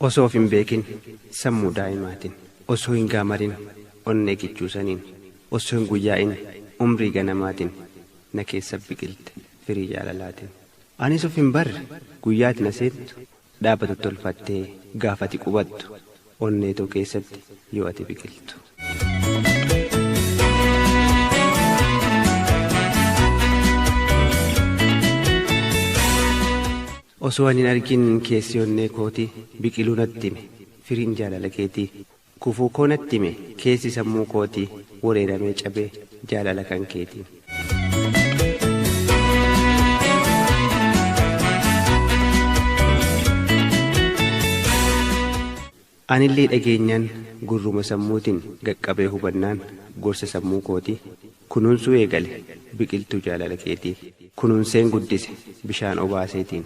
osoo of hin beekin sammuu daa'imaatiin osoo hin gaamarin onnee kichuu saniin osoo hin guyyaa'in umrii ganamaatiin na keessa biqilte firii jaalalaatiin anis of hin barre guyyaati na seentu Dhaabbatu tolfattee gaaf ati qubattu onnee too keessatti yoo ati biqiltu. Osoo ani hin argin keessi onnee kooti biqiluu natti hime firiin jaalala keetii kufuu koo natti hime keessi sammuu kootii wereeramee cabee jaalala kan keetiin. Anillee dhageenyaan gurruma sammuutiin gaqqabee hubannaan gorsa sammuu kootii kunuunsuu eegale biqiltuu jaalala keetii kunuunseen guddise bishaan obaaseetiin.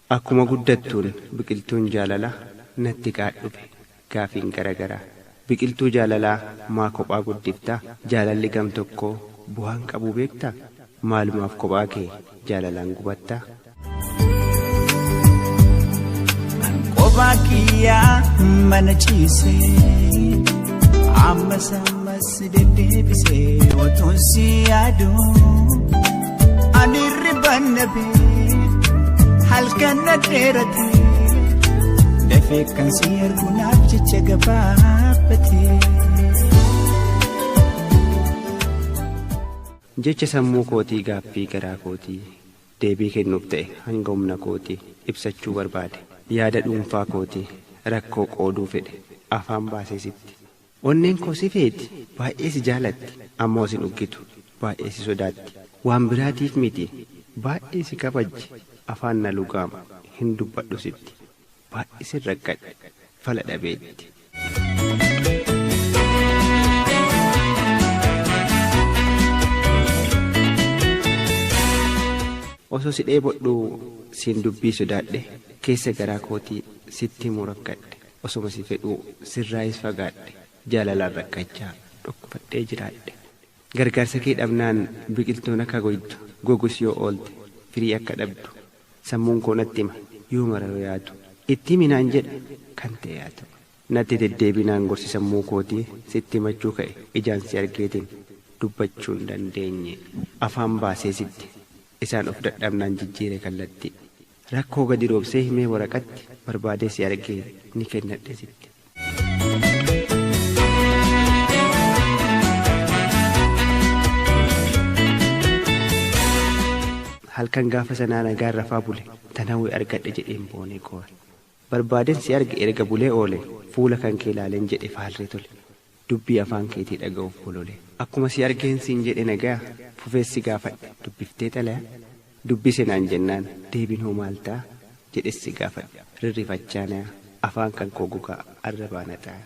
Akkuma guddattuun biqiltuun jaalala natti qaadhube gaafiin gara garaa Biqiltuu jaalalaa maa kophaa guddifta Jaalalli gam tokkoo bu'aan qabuu beekta Maalumaaf kophaa kee jaalalaan gubatta? An kophaa kiyyaa mana ciisee ammas ammas. Si deddeebisee otuun si yaadu ani riban dhabee halkan na dheerate dafee kan si ergu naaf jecha gabaabate. Jecha sammuu kootii gaaffii garaa kootii deebii kennuuf ta'e hanga humna kootii ibsachuu barbaade yaada dhuunfaa kootii rakkoo qooduu fedhe afaan baasee sitti Onneen koo si feeti, baay'ee si jaalatti, ammoo sin uggitu, baay'ee si sodaatti. Waan biraatiif miti, baay'ee si kabajji, afaan na lugaama, hin dubbadhu sitti. Baay'isen rakkadhe, fala dhabeetti. Osoo si dheebodhuu siin dubbii sodaadhe, keessa garaa kootii sitti himuu rakkadhe. Osoma si fedhuu sirraayis fagaadhe jaalalaan rakkachaa dhukkubadhee jiraadhe Gargaarsa kee dhabnaan biqiltuun akka goytu gogus yoo oolte firii akka dhabdu sammuun koo natti hima yoo mara yoo yaadu itti himi naan jedha kan ta'e haa ta'u Natti deddeebinaan gorsi sammuu kootii sitti himachuu ka'e ijaan si argeetiin dubbachuu hin dandeenye afaan baasee sitti isaan of dadhabnaan jijjiire kallattii. Rakkoo gadi roobsee himee waraqatti barbaadee si argee ni kennadhe sitti. Halkan gaafa sanaa nagaan rafaa bule tan hawwe argadhe jedheen boonee goore. Barbaaden si arge erga bulee oole Fuula kan kee laaleen jedhe faarree tole Dubbii afaan keetii dhaga'uuf bolole. Akkuma si argeen siin jedhe nagaya Fufees si gaafadhe dubbiftee xalaya Dubbise naan jennaan deebiin hoo maal ta'a Jedhes si gaafadhe rirrifachaa naya Afaan kan koo gogaa arrabaan haxaaya.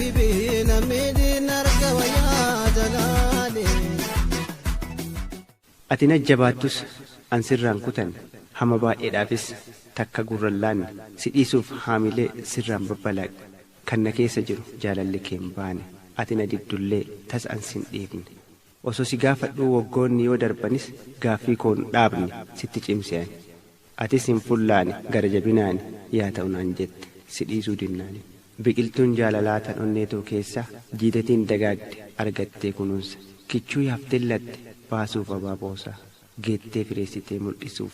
Ati na jabaattus an sirraan kutan hama baay'eedhaafis takka gurran laanne si dhiisuuf haamilee sirraan babbalaaqe kan na keessa jiru jaalalli kee hin baane ati na dibdullee tas an sin dhiifne Osoo si gaafadhuu waggoonni yoo darbanis gaaffii koo hin dhaabne sitti cimse ani. Atis hin fullaane gara jabinaani yaa ta'u naan jette si dhiisuu dinnaani. Biqiltuun jaalalaa tan onnee too keessa jiidatiin dagaagde argattee kunuunsa. Kichuu yaafteen latte baasuuf abaaboosaa geettee fireessitee muldhisuuf.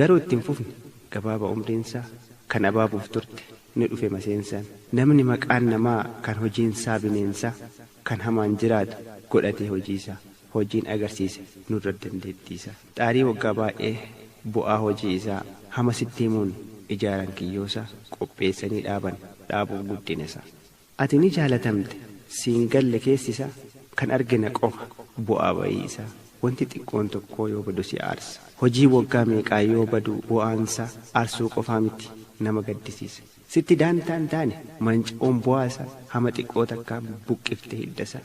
Garuu itti hin fufne, gabaaba umriinsaa, kan abaabuuf turte, ni dhufe maseensaan. Namni maqaan namaa, kan hojiinsaa bineensaa, kan hamaan jiraatu, godhatee hojiisaa. Hojiin agarsiise nurra dandeettiisaa. Xaarii waggaa baay'ee, bu'aa hojii isaa, hama sitti himuun, ijaaran kiyyoosaa, qopheessanii dhaaban, dhaabuuf guddinasaa. Ati ni jaalatamte siin galle keessi isaa kan arge na qofa bu'aa ba'ii isaa wanti xiqqoon tokkoo yoo badu si aarsa hojiin waggaa meeqaa yoo badu bu'aan isaa aarsuu qofaa miti nama gaddisiisa sitti daantaa hin taane manca'uun bu'aa isaa hama xiqqoo takkaan buqqifte hidda isaa.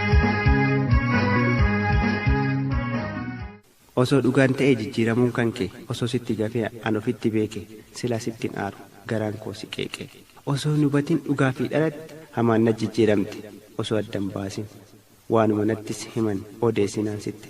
Osoo dhugaan ta'ee jijjiiramuun kan kee osoo sitti gafee an ofitti beekee silaa sittin aaru garaan koo si qeeqee osoo hin hubatin dhugaa fi dharatti hamaan naj jijjiiramte osoo addan baasin waanuma nattis himan odeessinaan sitti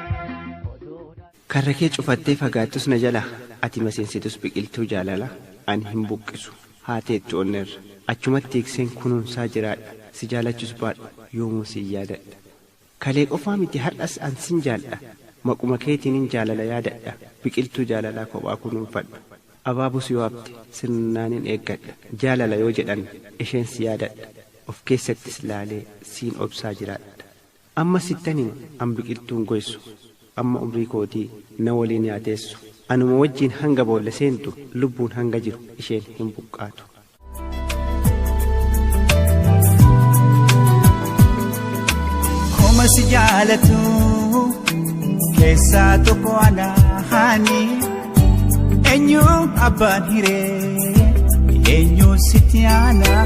Karra kee cufattee fagaattus na jalaa Ati maseensitus biqiltuu jaalalaa Ani hin buqqisu haa teettu onnerra Achumatti tiikseen kunuunsaa jiraadha Si jaalachus baadhu yoomuu sin yaadadha Kalee qofaa miti har'as an sin jaaldha Maquma keetiinin jaalala yaadadha Biqiltuu jaalalaa kophaa kunuunfadhu Abaabus yoo hafte sirnaanin eeggadha Jaalala yoo jedhan isheen si yaadadha Of keessattis laalee siin obsaa jiraadha. Amma sittan hima an biqiltuun goysu amma umrii kootii na waliin yaa teessu anuma wajjiin hanga boolla seentu lubbuun hanga jiru isheen hin buqqaatu. Koma si jaalatu keessaa tokko anaani eenyu abbaan hiree eenyu sitti aanaa.